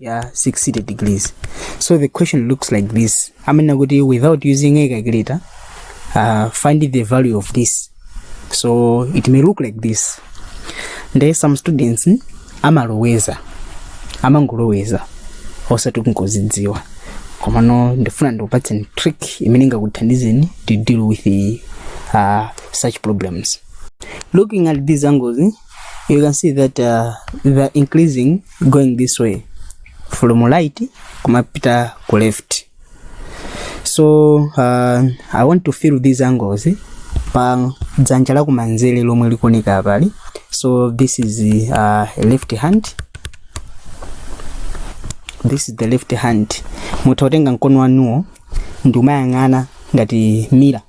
ya succeeded degrees so the question looks like this amanena kuti without using a calculator uh, find the value of this so it may look like this nde some students mm, amaloweza amangoloweza osati kungozidziwa komano ndifuna ndikupatseni trick imene ingakuthandizeni to deal with the, uh, such problems looking at these angles you can see that uh, they're increasing going this way from right kumapita ku left so uh, i want to fill these angles eh, pa dzanja la kumanzere lomwe likuoneka apali so this is uh, a left hand this is the left hand mutha kutenga mkono wanuwo ndi kumayang'ana ngati mirror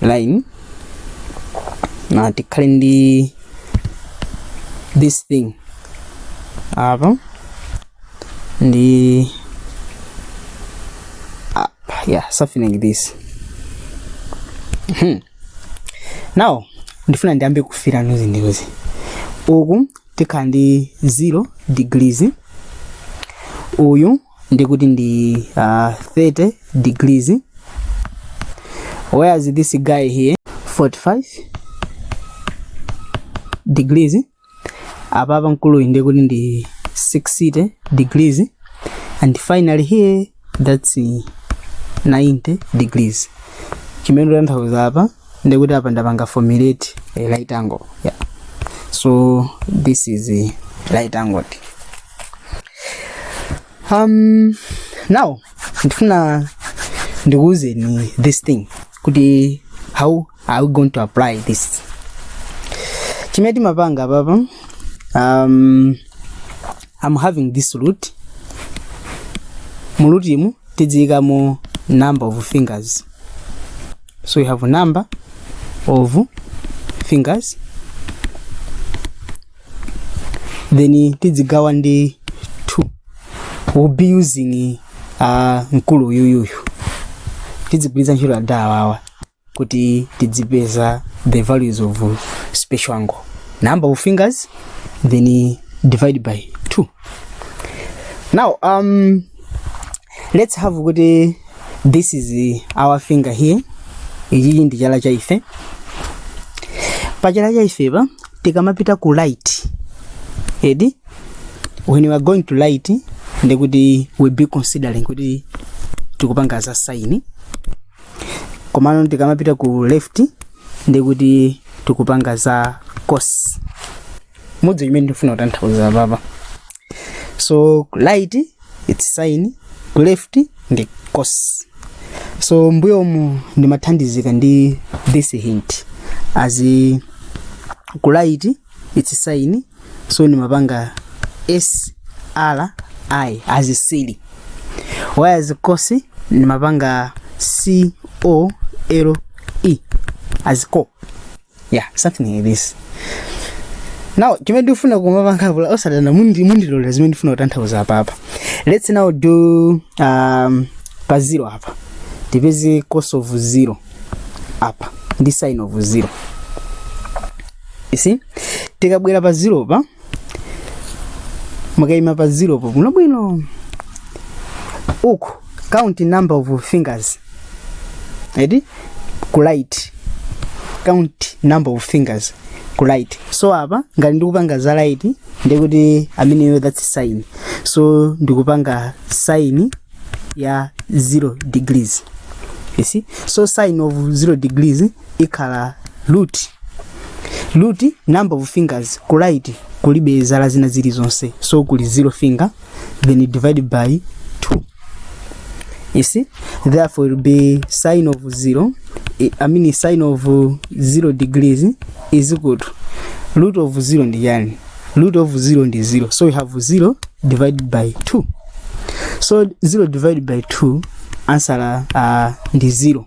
line nde tikhale ndi this thing apa ndi up yeah something like this Mhm. now ndifuna ndiyambe kufira nuzi ndiuzi uku tikhala ndi 0 degrees uyu ndi kuti ndi uh, 30 degrees whereas this guy here 45 degrees apa pa mkuluyu ndi kuti ndi 60 degrees and finally here that's uh, 90 degrees chimene ndikutanthauza apa ndi kuti apa ndapanga formulate a right angle yeah. so this is a right angle um now ndifuna ndikuuzeni this thing kuti how are we going to apply this chimene timapanga papa um, i'm having this root mu root imu tidziikamo number of fingers so we have a number of fingers then tidzigawa ndi 2 we'll be using uh, mkulu uyuyuyu tidzigwiritsa ntchito ada awawa kuti tidzipeza the values of special angle number of fingers then divide by 2 now um, let's have kuti this is uh, our finger here ichichi ndi chala cha ife pa chala cha ife pa tikamapita ku right edi when we are going to right ndi kuti we'll be considering kuti tikupanga za sine komano tikamapita ku left ndi kuti tikupanga za cos ndi chimene ndifuna kutanthauza papa so right its sin ku left ndi cos so mbuyomu ndimathandizika ndi this hint as in ku right its sin so ndimapanga s r i as sri whereas cos ndimapanga c o l e as co yeah something like this now chimene ndifuna kumapanga apa osadana mundi- mundilondole zimene ndifuna kutanthauza apapa let's now do um, pa zero apa tipeze cos of zero apa ndi sin of zero you see tikabwera pa zero pa mukaima pa zero po bwinobwino muku count number of fingers eti ku right count number of fingers ku right so apa ngati ndikupanga za right ndiye kuti ameneyo that's sin so ndikupanga sin ya 0 degrees you see so sin of 0 degrees ikhala root root number of fingers ku right kulibe zala zina zilizonse so kuli zero finger then divide by 2 you see therefore it will be sine of zero i I mean sine of uh, zero degrees is equal to root of zero ndi yani root of zero ndi zero so we have zero divided by 2 so 0 divided by 2 answer uh, ndi 0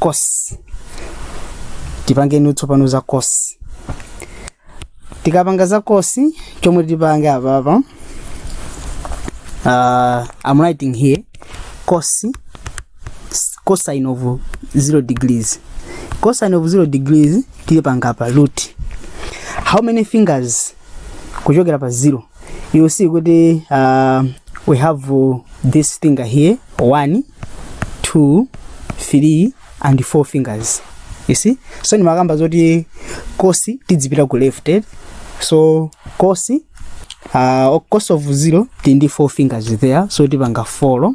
cos tipangeni tsopano za cos tikapanga za cos chomwe tipange apapa uh, I'm writing here cos cosine of 0 degrees cosine of 0 degrees tipanga pa root how many fingers kuchokera pa zero you see kuti uh, we have uh, this finger here one two three and four fingers you see so ndimakamba zoti kosi tidzipita ku left eh? so kosi uh, cost of zero tindi four fingers there so tipanga folo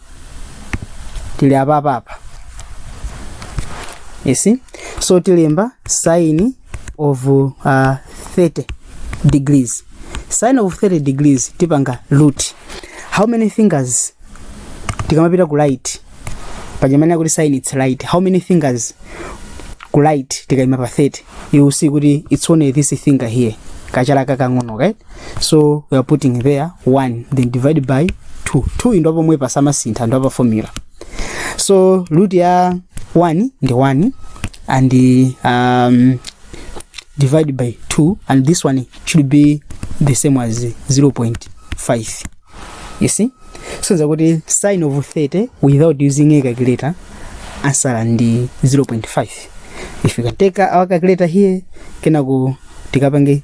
tili apapapa you see so tilemba sin of uh, 30 degrees sin of 30 degrees tipanga root how many fingers tikamapita ku right paja tinanena kuti sin its right how many fingers ku right tikaima pa 30 you will see kuti it's only this finger here kachala kakang'ono right so we are putting there 1 then divide by 2 2 ndo pomwe pasamasintha ndo pa formula so root ya 1 ndi 1 and um, divide by 2 and this one should be the same as 0.5 you see so zakuti sin of 30 without using a calculator answer ndi 0.5 if you can take our calculator here kenako tikapange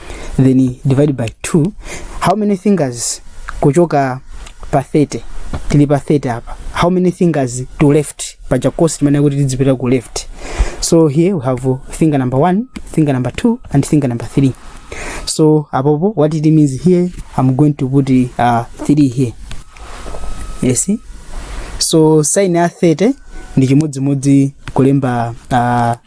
then divide by 2 how many fingers kuchoka pa 30 tili pa 30 apa how many fingers to left paja course timene kuti tidzipita ku left so here we have finger number 1 finger number 2 and finger number 3 so apopo what it means here i'm going to put uh, 3 here you see so sign ya 30 ndi chimodzimodzi kulemba uh,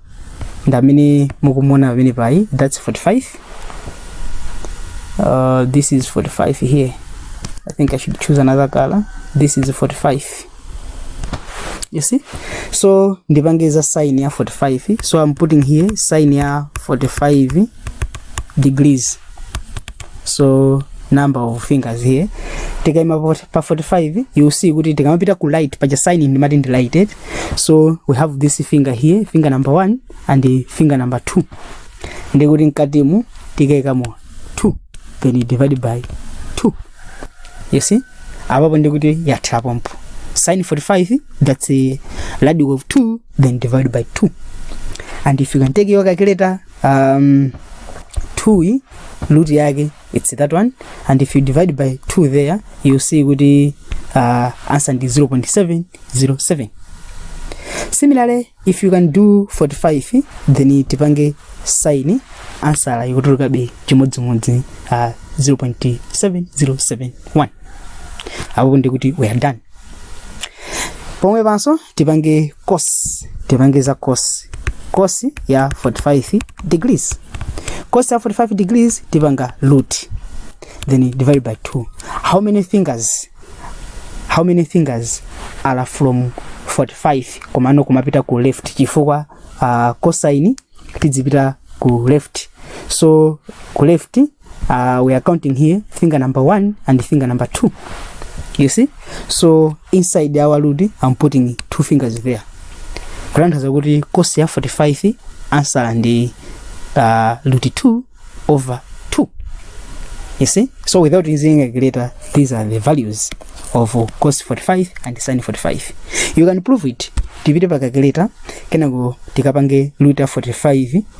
ndamene mukumona pamene paja that's 45 uh, this is 45 here i think i should choose another color this is 45 you see so ndipange za sin ya 45 so i'm putting here sin ya 45 degrees so number of fingers here tikaima pa 45 you see kuti tikamapita ku right paja sin ndimati ndi right eti so we have this finger here finger number one and finger number two ndikuti mkatimu tikaikamo 2 then you divide by 2 you see apapo ndikuti yatha pompo sin 45 that's a radic of 2 then divide by 2 and if you can take your calculator um, 2 root yake it's that one and if you divide by 2 there you will see kuti uh, answer ndi 0.707 similarly if you can do 45 then tipange sin ansala ikutulukabe chimodzimodzi uh, 0.7071 apopo ndiye kuti we are done pomwe panso tipange cos tipange za cos cos ya 45 degrees cos ya 45 degrees tipanga root then divide by 2 how many fingers how many fingers are from 45 komano kumapita ku left chifukwa uh, cosine tidzipita ku left so ku left uh, we are counting here finger number one and finger number two you see so inside our load i'm putting two fingers there kutanthauza kuti kosi ya 45 ansala ndi uh, root 2 over 2 you see so without using a greater these are the values of cos 45 and sin 45 you can prove it tipite pa calculator kenako tikapange root ya 45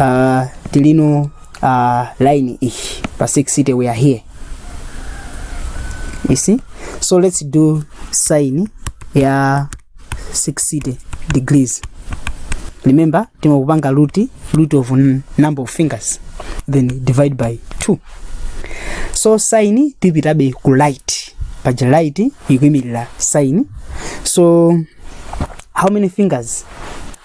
uh, tilino uh, line ichi pa 6 city we are here you see so let's do sign ya 6 city degrees remember timakupanga root root of n- number of fingers then divide by 2 so sign tipitabe ku light paja light ikuimirira sign so how many fingers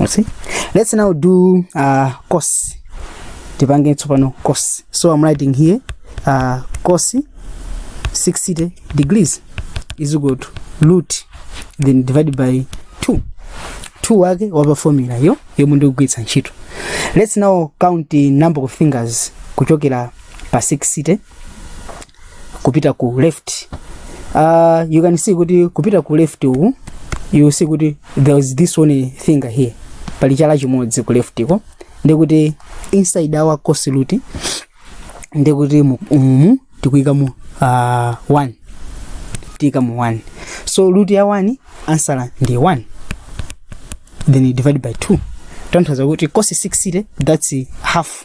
You see? Let's now do uh, cos. Tipange tsopano cos. So I'm writing here uh, cos 60 degrees is equal to root then divided by 2. 2 wake wapa formula yo yomwe ndikugwiritsa ntchito. Let's now count the number of fingers kuchokera pa 60 kupita ku left uh, you can see kuti kupita ku left uku you see kuti there is this one finger here pali chala chimodzi ku leftko ndikuti inside our cos root ndikuti mu- umu tikuika mu uh, one tiika mu one so root ya one answer ndi one then you divide by two kutanthauza kuti cos 60 that's half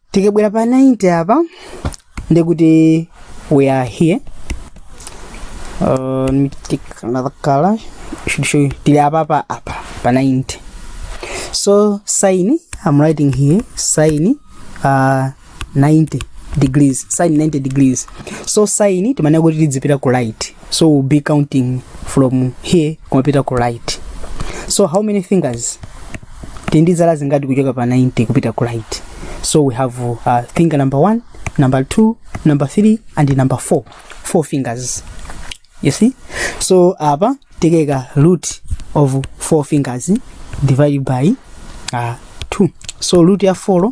tikabwera pa 90 apa ndikuti we are here uh, let me take another color to show you tili apapa apa pa 90 so sin i'm writing here sin uh, 90 degrees sin 90 degrees so sin timanena kuti tidzipita ku right so we'll be counting from here kumapita ku right so how many fingers tili ndi zala zingati kuchoka pa 90 kupita ku right so we have uh, finger number 1 number 2 number 3 and number 4 four fingers you see so apa tikeka root of four fingers divided by uh, 2 so root ya 4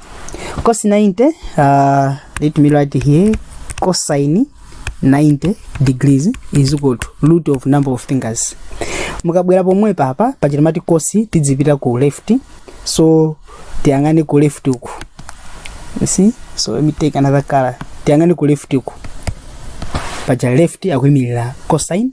Cos 90, uh, let me write here, cosine 90 degrees is equal to root of number of fingers. Mukabwera pomwe papa pachita mati cos tidzipita ku left, so tiyang'ane ku left uku. You see? So let me take another color. Tiyang'ane ku left uku. Paja left akuimirira cosine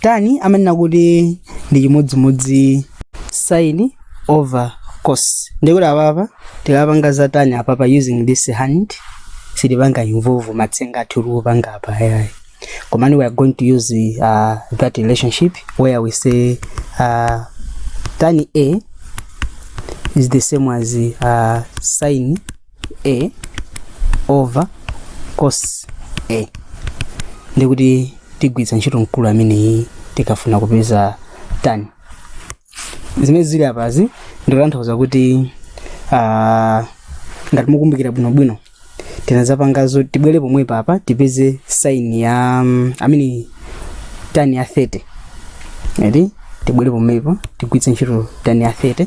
tan amanena kuti ndi chimodzimodzi sin over cos ndikuti apapa tikapanga za tan apapa using this hand sitipanga involve matsenga athu tikupanga apawa ayayi komano we are going to use uh, that relationship where we say uh, tan a is the same as uh, sin a over cos a ndikuti tigwiritsa ntchito mkulu ameneyi tikafuna kupeza tan zimene zili apazi ndikutanthauza kuti ah, ngati mukumbukira bwinobwino tinazipangazo tibwere pomwepo apa tipeze sin ya mm, I mean tan ya 30 eti tibwere pomwepo tigwiritse ntchito tan ya 30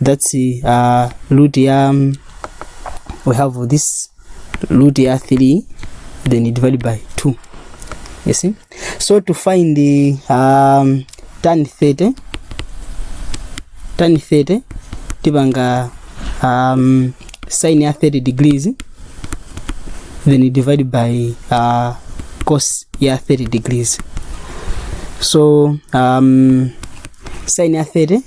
that's uh, root ya um, we have this root ya 3 then you divide by 2 you see so to find the um, tan 30 tan 30 tipanga um, sin ya 30 degrees then you divide by uh, cos ya 30 degrees so um, sin ya 30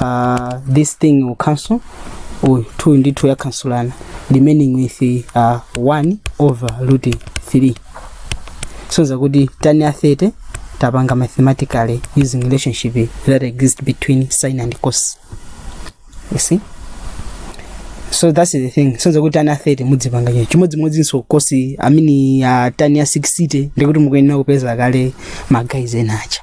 uh, this thing will cancel or 2 ndi 2 yakansulana remaining with uh, 1 over root 3 kusonyeza kuti tan ya 30 tapanga mathematically using relationship that exist between sin and cos you see so that's the thing kusonyeza kuti tan ya 30 mudzipanga choncho chimodzimodzinso cos I mean uh, tan ya 60 ndikuti mukuyenera kupeza kale magazi enacha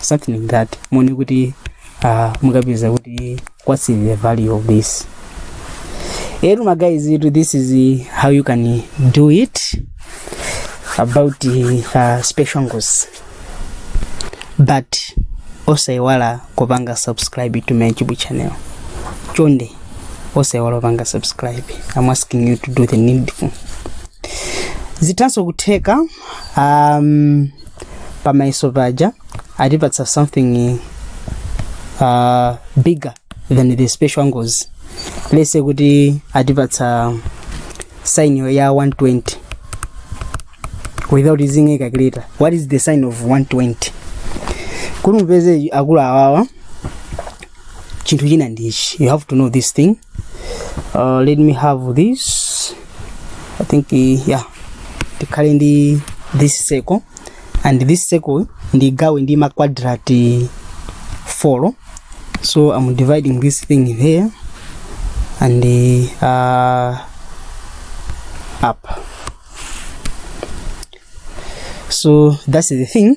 something like that muone kuti uh, mukapeza kuti what's the value of this etu ma guys itu this is uh, how you can do it about uh, special ngos but osaiwala kupanga subscribe to my youtube channel chonde osaiwala kupanga subscribe i'm asking you to do the needful zitanso kutheka um, pamayeso paja atipatsa something uh, bigger than the special angles let's say kuti atipatsa sin ya 120 without using a calculator what is the sin of 120 kuti mupeze akulu awawa chinthu china ndichi you have to know this thing uh, let me have this i think uh, yeah tikhale ndi this circle and this circle ndigawe ndi ma quadrate 4 so i'm dividing this thing there and uh, up so that's the thing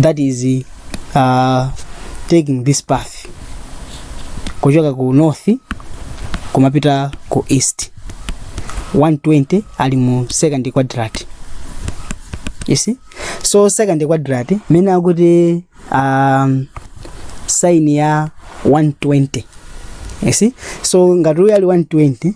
that is uh, taking this path kuchoka ku north kumapita ku east 120 ali mu second quadrant you see so second quadrant mmene akuti um, sin ya 120 you see so ngati uyu ali 120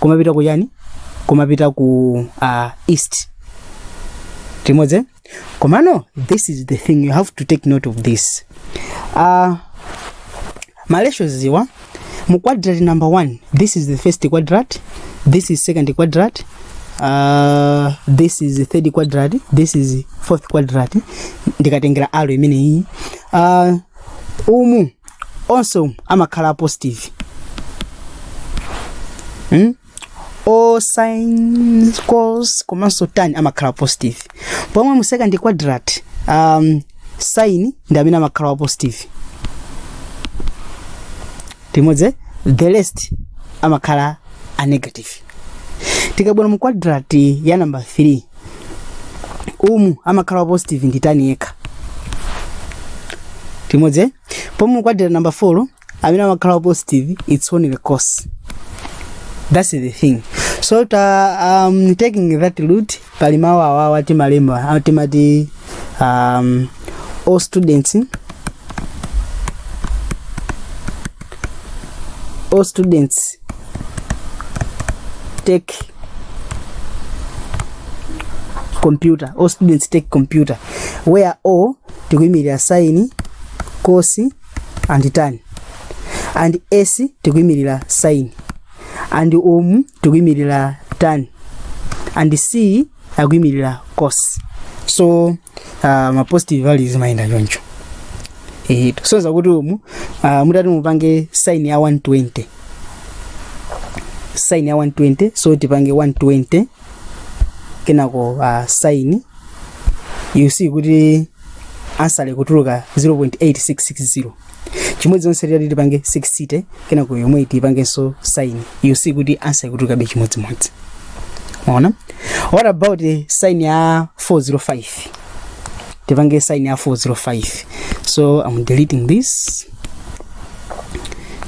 kumapita ku chani kumapita ku uh, east timodze komano this is the thing you have to take note of this uh, malesho ziwa mu quadrant number one this is the first quadrant this is second quadrant uh, this is the third quadrant this is fourth quadrant ndikatengera aro imeneyi uh, umu onse umu amakhala a positive hmm? all sin cos komanso tan amakhala a positive pomwe mu second quadrant um, sin ndi amene amakhala wa positive tili limodzi the rest amakhala a negative tikabwera mu quadrant ya number 3 umu amakhala wa positive ndi tan yekha tili limodzi pomwe mu quadrant ya number 4 amene amakhala wa positive it's only the cos that's the thing so ta, um, taking that route pali mawu awawa timalemba ah, timati um, all students all students take computer all students take computer where all tikuyimirira saini kosi and tan and s tikuyimirira saini and om tikuyimirira tan and c akuyimirira cos so uh, ma positive values mayenda choncho eh kusonza kuti umu uh, mutati mupange sign ya 120 sign ya 120 so tipange 120 kenako pa sin you see kuti ansa ikutuluka 0.8660 chimodzimodzinso titati tipange 60 kenako yomweyi tipangenso sin you see kuti ansa ikutulukabe chimodzimodzi mwaona what about eh, sin ya 405 tipange sin ya 405 so i'm deleting this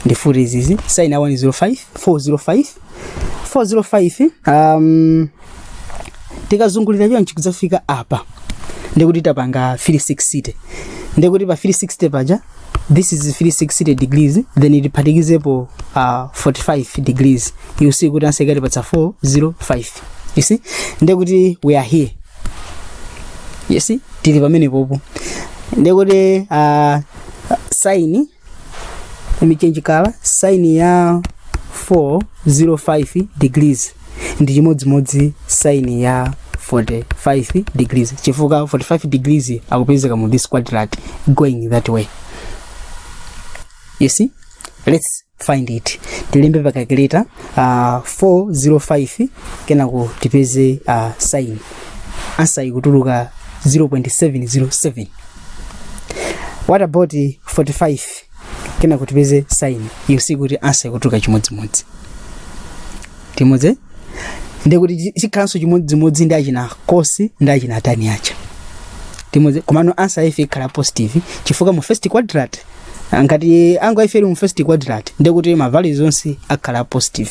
ndifufute izizi sin ya 105 405 405 um, tikazungulira chonchi kudzafika apa ndikuti tapanga 360 ndikuti pa 360 paja this is 360 degrees then tiphatikizepo uh, 45 degrees you see kuti ansa ikatipatsa 405 you see ndikuti we are here you see tili pamenepopo ndikuti uh, sin let me change color sin ya 405 degrees ndi chimodzimodzi sin ya 45 degrees chifukwa 45 degrees akupezeka mu this quadrant going that way you see let's find it tilembe pa calculator uh, 405 kenako tipeze uh, sin ansa ikutuluka 0.707 what about 45 kena tipeze sine you see kuti answer ikutuluka chimodzimodzi timodzi ndekuti chikhalanso chimodzimodzi ndi achina cos ndi achina tan acha timodzi komano answer yaife ikhala ya positive chifukwa mu first quadrant ngati angle yaife ili mu first quadrant ndekuti ma values onse akhala a positive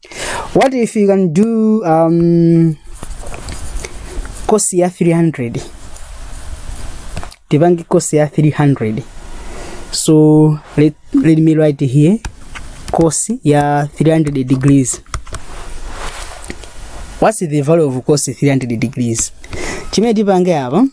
what if you can do um, course ya 300 tipange course ya 300 so let, let me write here course ya 300 degrees what's the value of course 300 degrees chimene tipange apa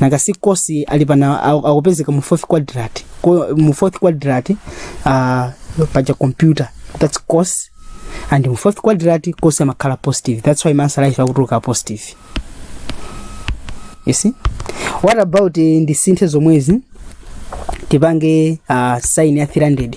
nanga si cos alipa na aku- akupezeka mu fourth quadrant Ko- mu fourth quadrant uh, paja computer that's cos and mu fourth quadrant cos amakhala wa positive that's why ma answer aife akutuluka a positive you see what about eh, ndisinthe zomwezi tipange uh, sine ya 300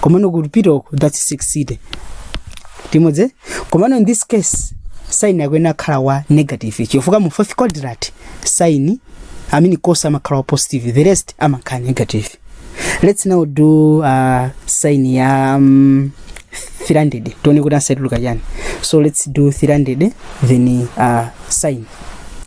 komano kupita uko that's sixty timodzi komano in this case sine yakoyo akhala wa negative chifukwa mu fourth quadrant sine i mean cos amakhala wa positive the rest amakhala negative let's now do uh, sine ya um, 300 tione kuti answer ituluka chani so let's do 300 then uh, sine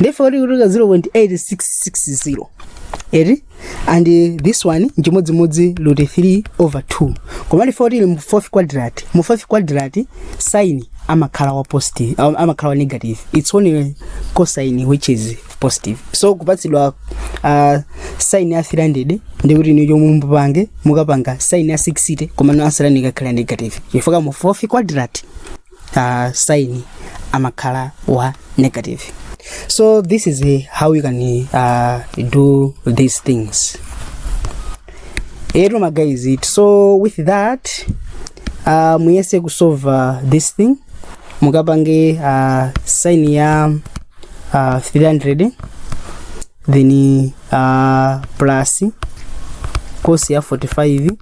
ndiye kuti ikutuluka 0.8660 eti and eh, this one nchimodzimodzi root 3 over 2 koma ndiye kuti ili mu fourth quadrant mu fourth quadrant sine amakhala wa positive am- amakhala wa negative it's only cosine which is positive so kupatsidwa uh, sine ya 300 ndikuti ni chomwe mupange mukapanga sine ya 60 komano answer yanu ikakhala negative chifukwa mu fourth quadrant uh, sign amakhala wa negative so this is uh, how you can uh, do these things ero ma guys it so with that uh, muyese kusova this thing mukapange uh, sign ya uh, 300 then uh, plus cos ya 45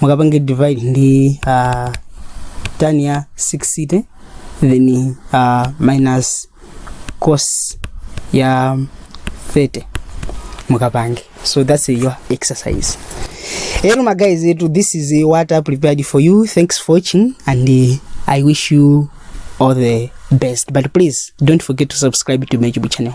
mukapange divide ndi uh, tan ya 60 then uh, minus cos ya 30 mukapange so that's your exercise hello my guys etu this is what i prepared for you thanks for watching and uh, i wish you all the best but please don't forget to subscribe to my youtube channel